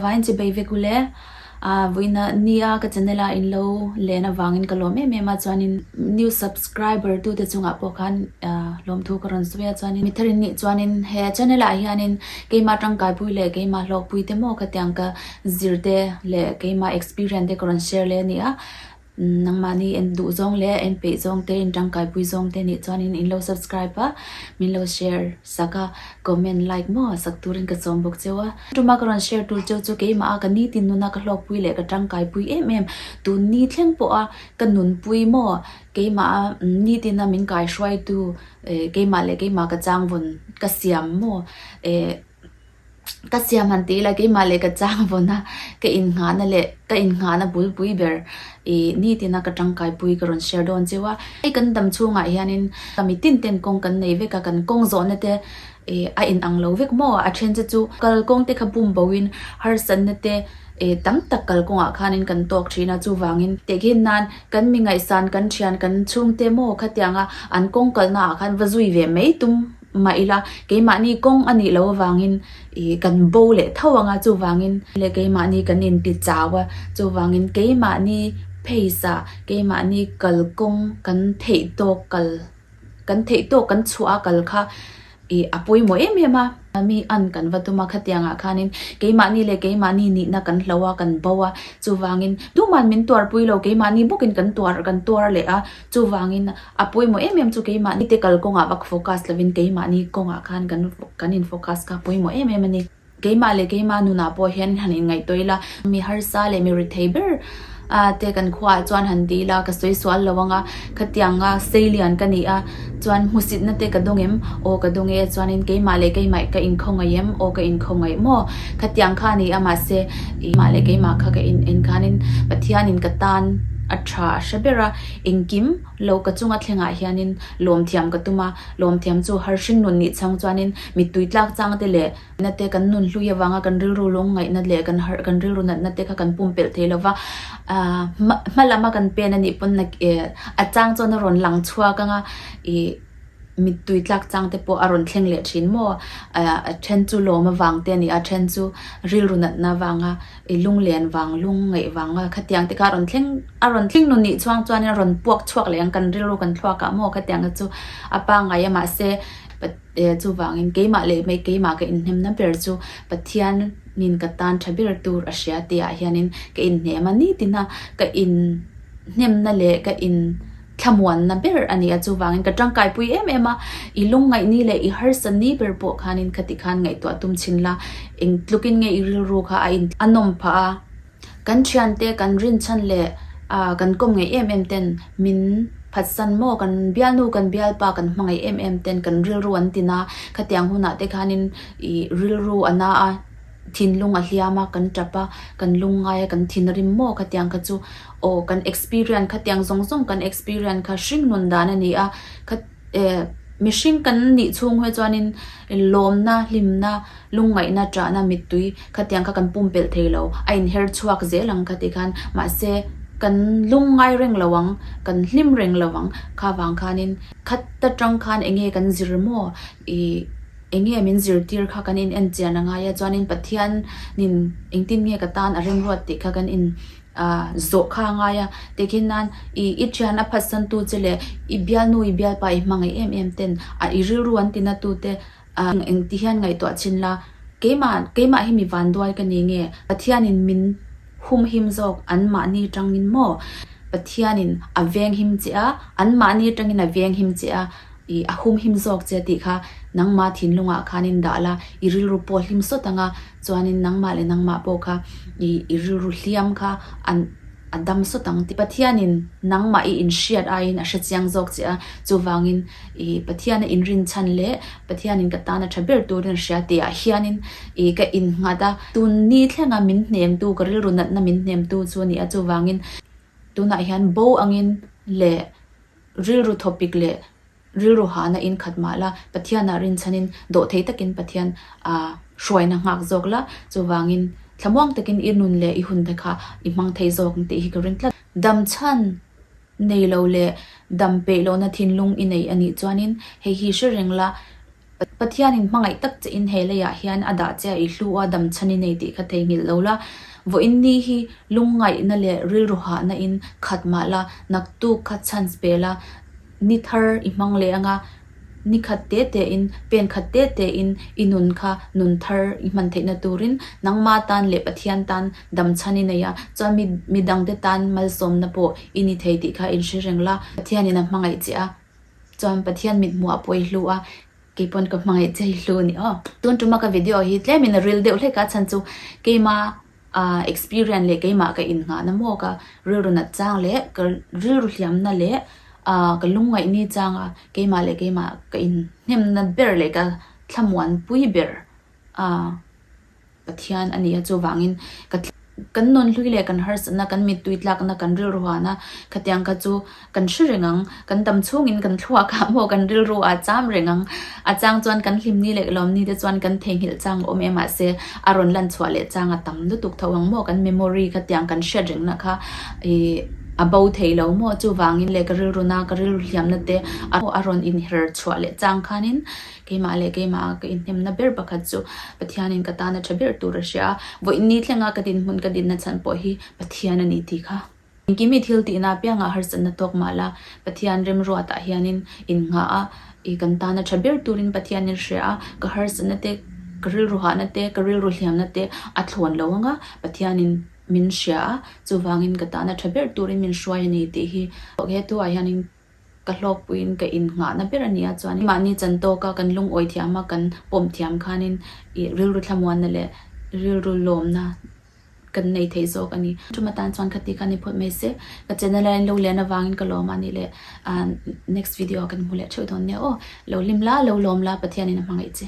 Vai an chibei vek u le. Ahh vawiin a ni a, ka channel a in lo len avangin ka lawm em em a chuanin new subscriber tu te chungah pawh khan ahh lawm thu ka rawn sawi a chuanin mi thar in nih chuanin he channel ah hianin keima tangkaipui leh keima hlawkpui te maw khatiang ka zir te leh keima experience te ka rawn share leh a ni a. Nangmahni en duh zawng leh en peih zawng te, in tangkaipui zawng te nih chuanin in lo subscribe a, min lo share sak a, comment like maw a sak turin ka sawm bawk cheu a. Tuma ka rawn share tur cheu chu keimah a ka nitin nuna ka hlawkpui leh ka tangkaipui em em tun ni thleng pawha ka nunpui maw keimah a nitin a min kaihruaitu eh keimah leh keimah ka changvun ka siam maw eh ka siam han tih ila keimah leh ka chang vawn a, ka inngahna leh ka inngahna bul pui ber ih ni tina ka tangkai pui ka rawn share dawn cheu a, hei kan dam chhungah hianin ka mitin ten kawng kan nei vek a, kan kawng zawhna te ih a in ang lo vek maw a, a then che chu kalkawng te kha bum bo in harsatna te ih tam tak kalkawngah khanin kan tawk thin a, chuvangin tehkhin nan kan mi ngaihsan kan thian kan chhungte maw khatianga an kawng kalnaah khan va zui ve mai tum mah ila, keimahni kawng a nih loh avangin i kan bo leh tho ang a, chuvangin leh keimahni kan inti chau a, chuvangin keimahni face ah, keimahni kalkawng kan theih tawk kal, kan theih tawk kan chhuah a kal kha i a pawimawh em em a, mi an kan va tum a, khatiangah khanin keimahni leh keimahni nihna kan hlo a, kan bo a, chuvangin tuman min tuarpui lo, keimahni bawkin kan tuar, kan tuar leh a. Chuvangin, a pawimawh em em chu keimah ni te kal kawngah vak focus lovin keimah ni kawngah khan kan kan in focus kha pawimawh em em a ni. Keimah leh keima nunah pawh hian han inngaihtuah ila, mi harsa leh mi rethei ber a te kan khuaah chuan han ti ila, ka sawi sual lo anga, khatianga seilian ka ni a. Chuan, Hmusitna te ka duh em? Aw ka duh nge, chuanin keimah leh keimah ka inkhaw ngaih em? Aw ka inkhaw ngaih maw? Kha tiang kha a ni a, mahse keimah leh keimah kha ka in en khanin Pathianin ka tan a tha a hre ber a, engkim lo ka chunga thlengah hianin lawmthiam ka tum a, lawmthiam chu har hringnun nih chhâng chuanin mittui tlâk châng te leh. Nate kan nun hlui avanga kan rilru lawng ngaihna leh kan harh kan rilru natna te kha kan pumpelh thei lova ahh hma lama kan pen anih pawn na a chang chuan a rawn lang chhuak anga ih mittui tlak chang te pawh a rawn thleng leh thin maw ahh a then chu lawm avang te nia a then chu rilru natna avanga ih lunglen vang lung ngaih vanga khatiang te kha a rawn thleng a rawn tling nun nih chuang chuan a rawn puak chhuak leh ang kan rilru kan thluak ah maw khatiang te chu a pangai a mahse pa-- Eh, chuvangin keimah leh hmei keimah ka inhnemna ber chu Pathianin ka tan tha ber tur a hria tihah hianin ka inhnem a ni tina ka inhnemna leh ka inthlamuanna ber a ni a. Chuvangin ka tangkaipui em em a, i lungngaihni leh i harsa ni ber pawh khanin khati khan ngaihtuah tum chin la, eng tlukin nge i rilru kha a intlawm a nawm phah a, Kan thiante, kan rinchhan leh kan kawm ngaih em em ten min phatsan maw? Kan bialnu, kan bialpa kan hmangaih em em ten kan rilru an ti na, khatiang hunah te khanin i rilru a na a, thinlung a hliam a, kan tap a, kan lungngai a, kan thinrim maw khatiang kha chu aw kan experience khatiang zawng zawng kan experience kha hring nun dan a ni a. Eh, mihring kan nih chhung he chuanin lawmna, hlimna, lungngaihna chahna mittui khatiang kha kan pumpelh thei lo, a inher chhuak zel ang kha ti khan, mahse kan lung ngai reng lo ang, kan hlim reng lo ang kha vang khanin khat ta tang khan enge kan zir maw ih enge min zirtir kha kan in enchian a ngai a, chuanin Pathianin engtin nge ka tan a remruat tih kha kan in a zawh kha a ngai a, tikhin nan i i thian a phatsantu che leh i bialnu i bialpa i hmangaih em em ten a i rilru an tinatu te a engti hian ngaihtuah chin la, keimah keimah hi mi vanduai ka ni nge Pathianin min humhim zawk anmahni atangin maw? Pathianin a venghim che a, anmahni atangin a venghim che a, i a humhim zawk che tih kha nangma thinlungah khan in dah la i rilru pawhlim sawt anga Chuanin nangmah leh nangmah pawh kha i i rilru hliam kha an a dam sawt ang tih. Pathianin nangmah i inhriat aiin a hrechiang zawk che a, chuvangin i Pathiana inrinchhan leh Pathianin ka tana tha ber turin a hria tih ah hianin i ka innghat a. Tun ni thlenga min hnemtu, ka rilru natna min hnemtu chu a ni a, chuvangin. Tunah hian bo angin leh rilru thawpik leh. Rilru hahna in khat mah la, Pathianah rinchhan in dawh thei takin Pathian aa hruaina nghak zawk la, chuvangin thlamuang takin i nun leh i hun te kha i hmang thei zawk ang tih hi ka ring tlat. Damchhan nei lo leh dam peih lohna thinlung i neih a nih chuanin hei hi hre reng la, Pathianin hmangaih tak che in he leiah hian a dah che a i hlu a dam chhan i nei tih kha theihnghilh lo la. Vawiin ni hi lungngaihna leh rilru hahna in khat mah la, naktuk kha chance pe la, ni thar i hmang leh anga ni khat te te in, pen khat te te in i nun kha nun thar i hman theihna turin nangma tan leh Pathian tan dam chhan i nei a, chuan mi midangte tan malsawmna pawh i ni thei tih kha in hre reng la. Pathianin a hmangaih che a. Chuan Pathian mit hmuh a pawi hlu a, kei pawn ka hmangaih chei hlu ni aw. Tun tuma ka video hi tlem in ril deuh hlek a chhan chu keima a experience leh keima ka in nghah na mawk a rilru nat chang leh ka rilru hliam na leh a ka lung ngaih ni chang a keima leh keima ka in hnem na ber leh ka thlamuan pui ber a Pathian a nia chuvangin ka kan nawn hlui leh kan harsatna kan mittui tlakna kan rilru hahna khatiang kha chu kan hre reng ang kan tam chhungin kan thluak ah maw kan rilru ah cham reng ang a chang chuan kan hlim ni leh lawm ni te chuan kan theihnghilh chang awm e mahse a rawn lan chhuah leh chang a tam lutuk tho ang maw kan memory khatiang kan hriat reng na kha ih a bo thei lo maw chuvangin leh ka rilru na ka rilru hliam na te a rawn inher chhuah leh chang khanin Keimah leh keimah a ka inhnemna ber pakhat chu Pathianin ka tana tha ber tur a hria a, vawiin ni thlenga ka dinhmun ka dinna chhan pawh hi Pathian a ni tih kha. Engkimi thil tihna apiangah a harsatna tawk mah la, Pathian remruatah hianin in nghah a, i kan tana tha ber turin Pathianin a hria a, ka harsatna te, ka rilru hahna te, ka rilru hliamna te a thlawn lo anga Pathianin min hria a, chuvangin ka tana tha ber turin min hruai a ni tih hi. He tuah hianin. Ka hlawkpuiin ka in nghahna ber a nia chuan mahni chan tawka kan lungawi thiama kan pawmh thiam khanin ih rilru thlamuanna leh rilru lawmna kan nei thei zawk a ni. Ṭum atan chuan khati khan i phawt mai se. Ka chenna laiin lo lian avangin ka lawm a nih leh ahh next video ah kan hmu leh ṭheuh dawn nia aw. Lo lim la, lo lawm la, Pathianin a hmangaih che.